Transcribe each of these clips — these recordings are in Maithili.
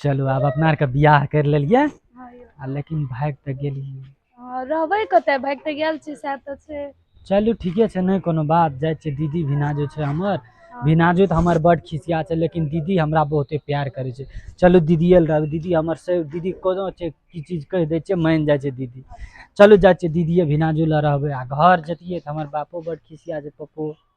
चलू आब अपना आरके बियाह कर लेलियै आ लेकिन भाग तऽ गेलियै हँ, रहबै कतऽ भागि तऽ गेल छी सएह तऽ छै चलू ठीके छै नहि कोनो बात जाइ छै दीदी भिना जे छै हमर भिनाजू तऽ हमर बड खिसिया छै लेकिन दीदी हमरा बहुते प्यार करै छै चलू दीदिये लग रहबै दीदी हमर से दीदी कोनो छै की चीज कहि दै छै मानि जाइ छै दीदी चलू जाइ छियै दीदिये भिनाजू लग रहबै आ घर जतियै तऽ हमर बापो बड खिसिया छै पप्पो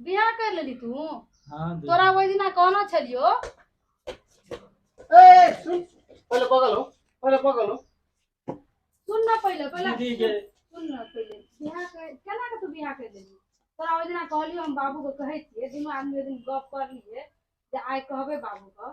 बियाह कर लेली तू हाँ दीदी। तोरा ओहि दिना कहना छलियो ए सुन पहले पकड़ लो पहले पकड़ लो सुन ना पहिले पहिले दीदी के सुन ना पहिले बियाह कर केना के तू बियाह कर लेली तोरा ओहि दिना कहलियो हम बाबू के कहै छियै दुनू आदमी ओहि दिन गप करलियै जे आइ कहबै बाबू के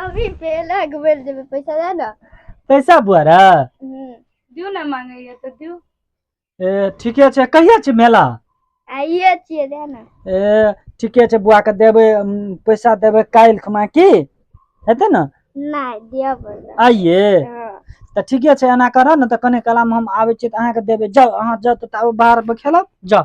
अभी पेला घुमल जेबे पैसा दे ना पैसा बुआरा हम्म, दियो ना मांगैया तो दियो ए ठीके छै कहिया छै मेला आइए छिए दे ना ए ठीके छै बुआ के देबै हम पैसा देबै काल्हि खमा की हेतै ने नहीं दिया बोला आइए हाँ, तऽ ठीके छै एना करऽ ने तऽ कने कलामे हम आबै छियै तऽ अहाँके देबै जाउ अहाँ जाउ तऽ ताबे बाहरमे खेलब जाउ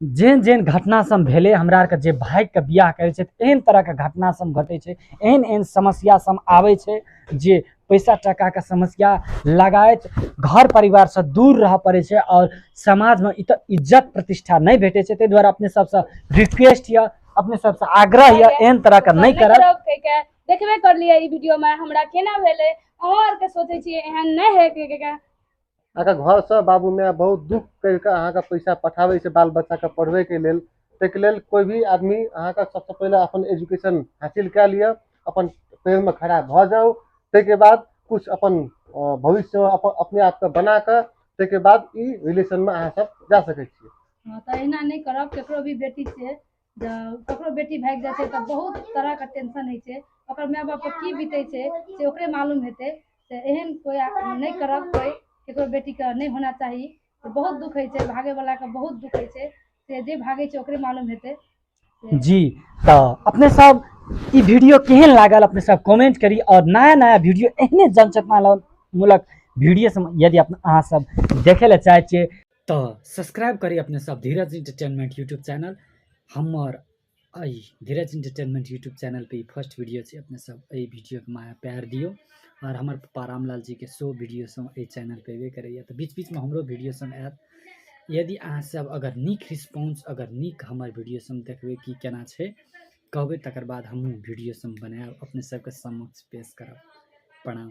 जेहन जेहन घटना सब भेलै हमरा आरके जे भागिके बियाह करै छै एहन तरहके घटना सब घटै छै एहन एहन समस्या सब आबै छै जे पैसा टाकाके समस्या लगायत घर परिवारसँ दूर रहऽ पड़ै छै आओर समाजमे इत इज्जत प्रतिष्ठा नहि भेटै छै ताहि दुआरे अपने सबसँ रिक्वेस्ट यऽ अपने सबसँ आग्रह यऽ एहन तरहके नहि करब करब कहि के देखबे करलियै ई वीडियो मे हमरा केना भेलै अहाँ आर के सोचै छियै एहन नहि है कहि के अहाँके घरसँ बाबू माय बहुत दुख करि कऽ अहाँके पैसा पठाबै छै बाल बच्चाके पढ़बैके लेल ताहिके लेल कोइ भी आदमी अहाँके सबसँ पहिले अपन एजुकेशन हासिल कए लिअ अपन पैरमे खड़ा भऽ जाउ ताहिके बाद किछु अपन अ, भविष्यमे अपन अपने आपके बना कऽ ताहिके बाद ई रिलेशनमे अहाँ सब जा सकै छी हँ तऽ अहिना नहि करब केकरो भी बेटी से ककरो बेटी भागि जाइ छै तऽ बहुत तरहके टेंशन होइ छै ओकर माय बाप पर की बीतै छै से ओकरे मालूम हेतै से एहन कोइ नहि करब कोइ ककरो बेटीके नहि होना चाही बहुत दुख होइ छै भागे वाला के बहुत दुख होइ छै से जे भागे छै ओकरे मालूम हेतै जी तऽ अपने सब ई वीडियो केहन लागल अपने सब कमेंट करी और नया नया वीडियो एहने जनचेतना मूलक वीडियो यदि अहाँ सब देखे लए चाहै छियै तऽ सब्सक्राइब करी अपने सब धीरज इंटरटेनमेंट यूट्यूब चैनल हमर एहि धीरज इंटरटेनमेंट यूट्यूब चैनल पे ई फर्स्ट वीडियो छै अपने सब एहि वीडियो के माया प्यार दियो और हमर पप्पा रामलाल जी के शो वीडियो सब एहि चैनल पे एबे करैया तऽ बीच बीच मे हमरो वीडियो सब आयत यदि अहाँ सब अगर नीक रिस्पॉन्स अगर नीक हमर वीडियो सब देखबै कि केना छै कहबै तकर बाद हमहूँ वीडियो सब बनायब अपने सबके समक्ष पेश करब प्रणाम